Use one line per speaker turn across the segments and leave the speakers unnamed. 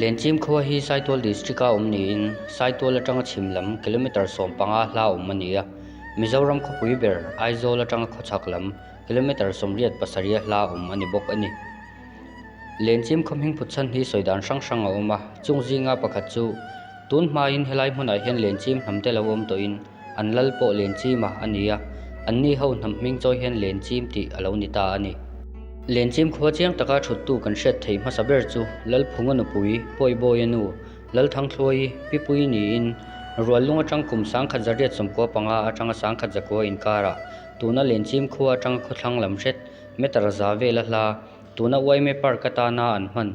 Lenchim khua hi Saitual District a awm niin Saitual atanga chhim lam kilometre sawm panga hla a awm a ni a. Mizoram khawpui ber Aizawl atanga khawchhak lam kilometre sawmriat pasarih a hla a awm a ni bawk a ni. Lenchim khawmhing phutsan hi sawi dan hrang hrang a awm a, chung zinga pakhat chu tun hmain helai hmunah hian lenchim hnam te lo awm tawhin, An lal pawh lenchima a ni a, anni ho hnam hming chawi hian lenchim tih a lo ni ta a ni. Lenchim khua chiang taka thuttu kan hriat theih hmasa ber chu Lalphunga nupui Pawibawia nu Lalthangthluaii Pipui niin Ruallung atang kum Sangkhat Zariat sawmkua panga atanga Sangkhat Zakua inkara tuna lenchim khua atanga khawthlang lam hret Meter za vela hla tuna Uaime Park atana an hman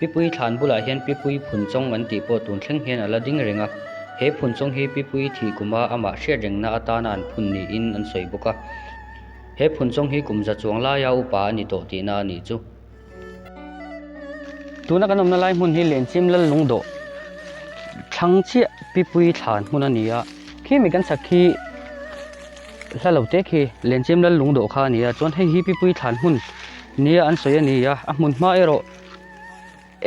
Pipui thlan bulah hian Pipui phun chawng an tih pawh tun thleng hian a la ding reng a. He phun chawng hi Pipui thih kuma amah hriat rengna atana an phun niin an sawi bawk a. He phun chawng hi kum za chuang laia upa a ni tawh tihna a nih chu. Tuna kan awmna lai hmun hi Lenchim lal lungdawh thlang chiah Pipui thlan hmun a ni a. Khi mi kan sak khi. hla lo tek hi Lemchem lal lung dawh kha a ni a, chuan hei hi Pipui thlan hmun nia an sawi a ni a, a hmun hma erawh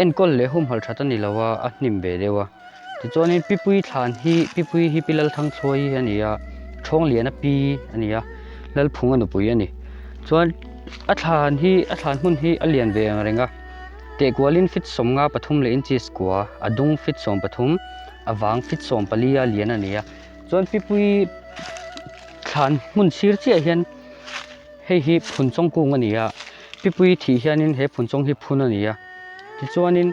enkawl leh humhalh that a ni lo a, a hnim ve deuh a. Tichuanin Pipui thlan hi, Pipui hi Pi Lalthangthuai a ni a, Thawngliana pi a ni a, Lalphunga nupui a ni. Chuan a thlan hi, a thlan hmun hi a lian ve reng reng a, Tehkualin feet sawmnga pathum leh inches kua, a dung feet sawmpathum, a vang feet sawmpali a lian a ni a. Chuan Pipuii thlan hmun sir chiah hian hei hi phun chawng kung a ni a, Pipuii thih hianin he phun chawng hi phun a ni a. Tichuanin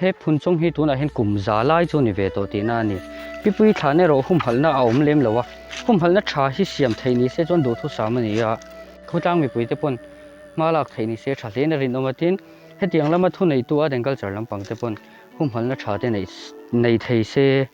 he phun chawng hi tunah hian kum za lai chu a ni ve tawh tihna a ni. Pipuii thlan erawh humhalhna a awm lem lo a, humhalhna tha hi siam theih ni se chuan duhthusam a ni a. Khutlang mipui te pawn hma lak theih ni se tha hlein a rinawm a, tin, hetiang lama thuneitu Aden culture lampang te pawn humhalhna tha te neih thei se.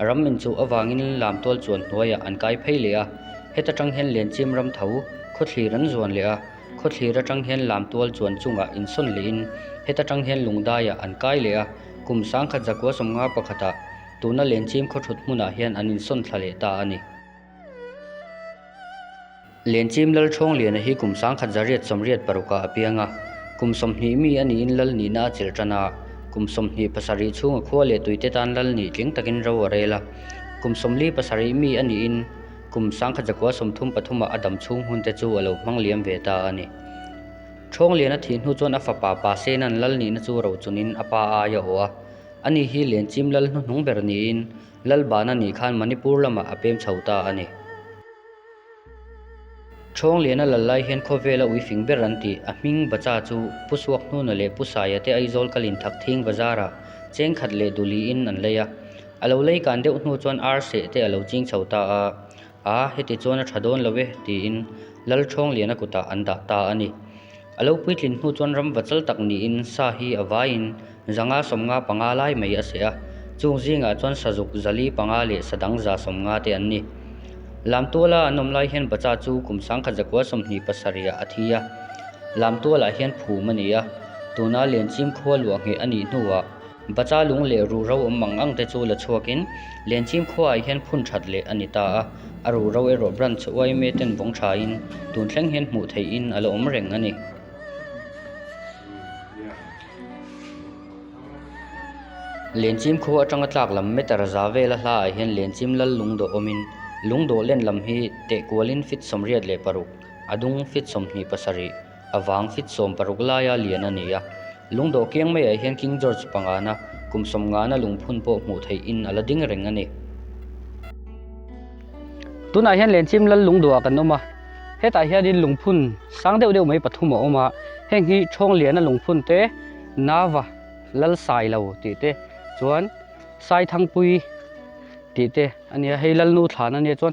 Ram inchuh avangin lam tual chuan hnuaiah an kai phei leh a, heta tang hian lenchim ram tho khawthlir an zuan leh a, khawthlir atang hian lam tual chuan chungah insawn lehin heta tang hian lungdaiah an kai leh a, kum sangkhat zakua sawmnga pakhatah tuna lenchim khawthut hmunah hian an insawn thla leh ta a ni. Lenchim lal chhawng liana hi kum sangkhat zariat sawmriat parukah a piang a, kum sawmhnih mi a niin lal nihna a chilh tan a, kum sawmhnih pasarih chhunga khua leh tuite tan lal nih tling takin ro a rel a, kum sawmli pasarih mi a niin kum sangkhat zakua sawmthum pathumah a dam chhung hmunte chu a lo hmang liam ve ta a ni. Chhawng liana thih hnu chuan a fapa Pa Sena'n lal nihna chu ro chunin a pa ai a awh a, a ni hi Lenchim lal hnuhnung ber niin lal bana nih khan Manipur lamah a pem chho ta a ni. Chhawng lehna la lai hian khawvel a ui fing ber an ti. A hming Bacha chu Pu Suakhnuna leh Pu Saia te Aizawl kal in thak thing Bazar ah cheng khat leh duli in an lei a. A lo lei kan deuh hnu chuan Arseh te a lo ching chho ta a, Aa, heti chuan a tha dawn lo e, tiin Lalchhawng liana kutah an dah ta a ni. A lo puitlin hnu chuan ram vachal tak niin sa hi a vaiin zanga sawmnga panga lai mai a seh a, chung zingah chuan sazuk zali panga leh sadang za sawmnga te an ni. Lamtuala an awm lai hian bacha chu kum sangkhat zakua sawmhnih pasarihah a thi a, lamtualah hian phum a ni a, tuna lenchim khualua ngheh a nih hnuah, Bacha lung leh ruh ro awm ang angte chu la chhuakin Lenchim khuaah hian phun that leh a ni ta a, a ruh ro erawh branch Yma ten vawng thain tun thleng hian hmuh theihin a la awm reng a ni. Lenchim khua atanga tlak lam Meter za vela hlaah hian Lenchim lal lung dawh awmin lung dawh len lam hi tehkualin feet sawmriat leh paruk, a dung feet sawmhnih pasarih, a vang fit sawm paruk laia lian a ni a, lungdaw kiang maiah hian King George pangana kum sawm nghahna lungphun pawh hmuh theih in a la ding reng a ni. Tunah hian Lenchim lal lungdawa kan awm a, hetah hianin lungphun sang deuh deuh mai pathum a awm a, heng hi Thawnglia-na lungphun te, Nava, Lal Sai lo tih te, chuan Sai Thangpui tih te a nia, hei Lalnu thlahna nia chuan,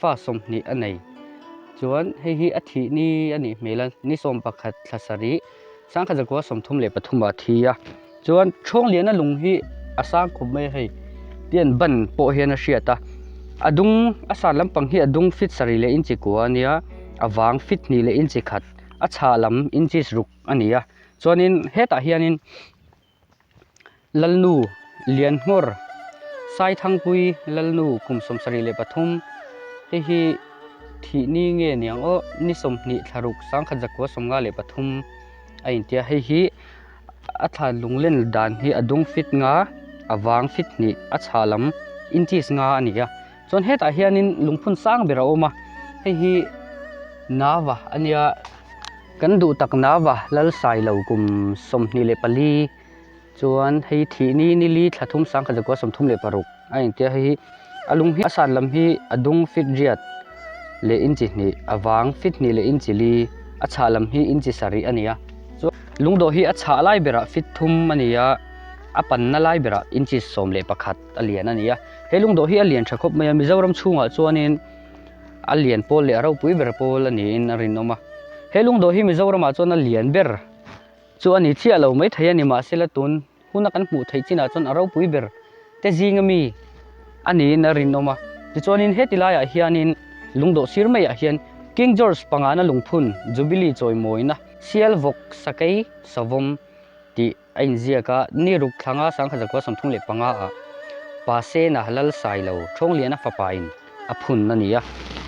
Fa sawmhnih a nei. Chuan hei hi a thih ni a nih hmel a, ni sawm pakhat thla sarih, Sangkhat zakua sawmthum leh pathum a thi a. Chuan Thawnglia-na lung hi a sang khawp mai a hei, Pian Ban pawh hian a hriat a. A dung, a san lampang hi a dung fit sarih leh inchi kua a nia, a vang fit hnih leh inchi khat, a chhah lam inches ruk a ni a. Chuanin hetah hianin. Lalnu Lianhnawr, Saithangpui Lalnu kum sawmsarih leh pathum te hi thih ni nge ni ang aw, ni sawmhnih thlaruk sangkhat zakua sawmnga leh pathum a intia. Hei hi a thlan lunglen dan hi a dum fit nga, a vang fit hnih, a chhah lam inchis nga a ni a. chuan hetah hianin lungphun sang ber a awm a hei hi nava a nia kan duh tak nava lalsai lo kum sawmhnih leh pali chuan hei thih ni nili tha thum sangkhat zakua sawmthum leh paruk a engtia hei hi a lung hi a san lam hi a dung fit riat leh inchi hnih a vang fit hnih leh inchi li a chhah lam hi inchi sarih a nia chuan lungdaw hi a chhah lai berah fit thum a nia a panna lai berah inchi sawm leh pakhat. a lian a nia he lungdaw hi a lian tha khawp mai a mizoram chhungah chuanin a lian pawl leh a ropui ber pawl a niin a rinawm a he lungdaw hi mizoramah chuan a lian ber chu a ni chiah lo mai thei a ni mahse la tun huna kan hmuh theih chinah chuan a ropui ber te zinga mi a niin a rinawm a tichuanin heti laiah hianin lungdaw sir maiah hian king george pangana lungphun jubilee chawimawina sialvawk sakei sawm tih A inziak a, Ni ruk thlanga Sangkhat Zakua sawmthum leh panga ah Pa Sena lal sai lo Thawnglinah fapa in a phun a ni a.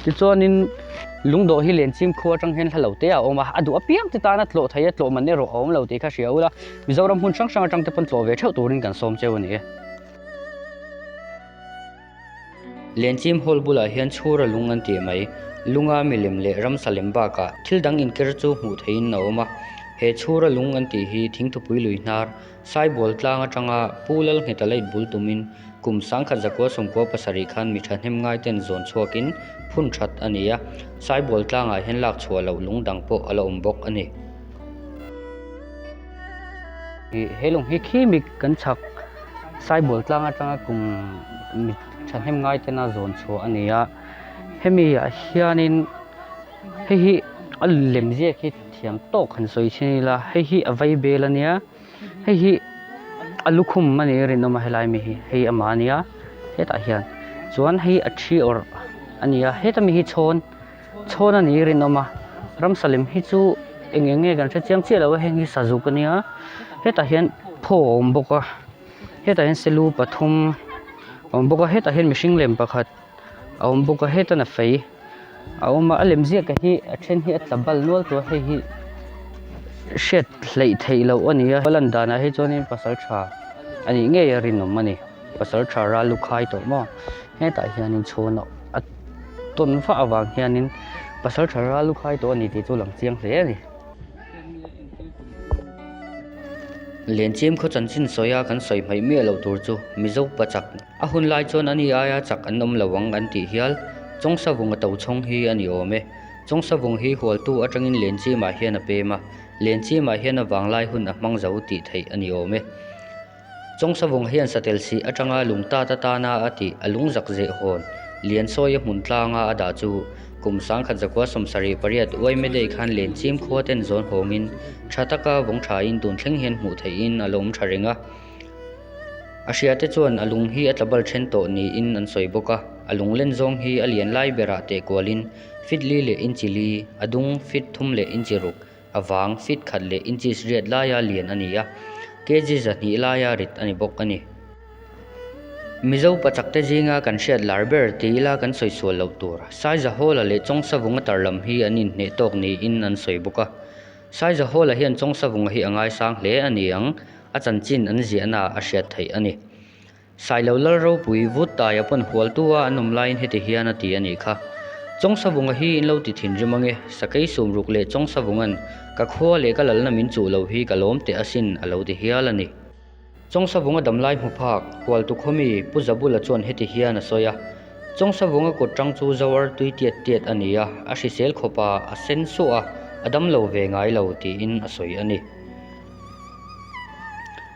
Tichuan in Lungdawh hi Lencim khua atang hian hla lo te a awm a, a duh apiang te tana tlawh thei a, tlawh man erawh a awm lo tih kha hria ula, Mizoram hmun hrang hrang atang te pawn tlawh ve theuh turin kan sawm cheu a ni e. Lenchim hall bulah hian chhur a lung an tih mai. Lunga milem leh ramsa lem bakah thil dang inker chu hmuh theihin a awm a. He chhur a lung an tih hi thing thupui lui hnar, sai bual tlang atanga Pu Lalngheta late bul tumin kum sangkhat zakua sawmkua pasarih khan mi tha hnem ngai ten zawn chhuakin phun that a ni a. Sai bual tlangah hian lakchhuah loh lungdang pawh a la awm bawk a ni. He lawng hi khimik kan chhak Saibul tlang atanga kum mi thahnem ngai tena zawn chhuah a ni a. Hemi ah hianin hei hi a lem ziak hi thiam tawk han sawi chhin ila hei hi a vei bel a nia. Hei hi a lukhum a nih i rinawm a helai mi hi hei amah a nia hetah hian. Chuan hei a thi awrh a nia heta mi hi chhawn. chhawn a nih i rinawm a ramsa lem hi chu eng eng nge kan hre chiang chiah lo a heng hi sazuk a nia hetah hian phaw a awm bawk a hetah hian selu pathum a awm bawk a hetah hian mihring lem pakhat a awm bawk a hetana fei a awm a a lem ziakah hi a then hi a tla bal nual tawh a hei hi hriat hleih theih loh a nia a lan danah hi chuan pasal tha a nih ngei a rinawm a ni. Pasalṭha ral lu khai tawh maw? Hetah hianin chhun a tawn fah avang hianin pasalṭha ral lu khai tawh a ni tih chu lang chiang hle a ni. Lenchim khaw chanchin sawia kan sawi hmaih miah loh tur chu mi zopa chak a hun lai chuan ani aia chak an awm lo ang an tih hial. Chaungsavunga to chhawng hi a ni awm e. Chaungsavung hi hualtu aṭangin Lenchimah hian a pem a, Lenchimah hian a vanglai hun a hmang zo tih theih a ni awm e. Chawngsavawng hian satel sih atanga lung ta ta tan a a ti, a lung zak zeh hawn. Lian sawi a hmun tlang a a dah chu. Kum sang khat zakua sawm sarih pariat uai meh daih khan len chim khua ten zawn hawngin tha taka vawng tha in tun thleng hian hmuh theih in a la awm tha reng a. A hria te chuan a lung hi a tla bal then tawh niin an sawi bawk a. A lung len zawng hi a lian lai berah teh kualin fitli leh inchi li, a dung, fit, thum leh inchi ruk, a vang fit khat leh inches riat laia lian a ni a, kg zahnih laia rit a ni bawk a ni. Mizo pa chakte zinga kan hriat lar ber tih ila kan sawi sual loh tur, Saiza Hall-a leh Chaungsavunga tarlam hi an inhneh tawk niin an sawi bawk a. Saiza Hall-a hian Chaungsavunga hi a ngaisang hle a ni ang, a chanchin an ziahna a hriat theih a ni. Sailo lal ropui vut tai a pawn hual tu a an awm laiin heti hian a ti a nih kha. Chaungsavunga hi in lo ti thin rim ang e, sakei sum ruk leh Chaungsavunga'n ka khua leh ka lalna min chuh lo hi ka lawm teh asin a lo ti hial a ni. Chaungsavunga damlai hmu phak, hual tu khaw mi Pu Zabula chuan heti hian a sawi a, Chaungsavunga kut tang chu zoar tui tiat tiat a ni a, a hrisel khawpa a sen suah a, a dam lo ve ngai lo tiin a sawi a ni.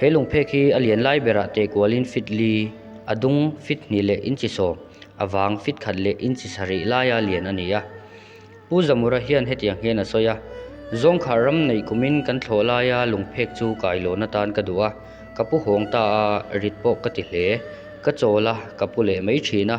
He lungphek hi a lian lai berah teh kualin fit li, a dung fit hnih leh inchi saw, a vang fit khat leh inchi sa rih laia lian a ni a. Pu Zamura hian hetiang hian a sawi a, Zawngkhar ram neih kumin kan thlawh laia lungphek chu ka ailawhna atan ka duh a, ka pu hawng ta a, rit pawh ka ti hle, ka chawl a, ka pu leh mai thin a,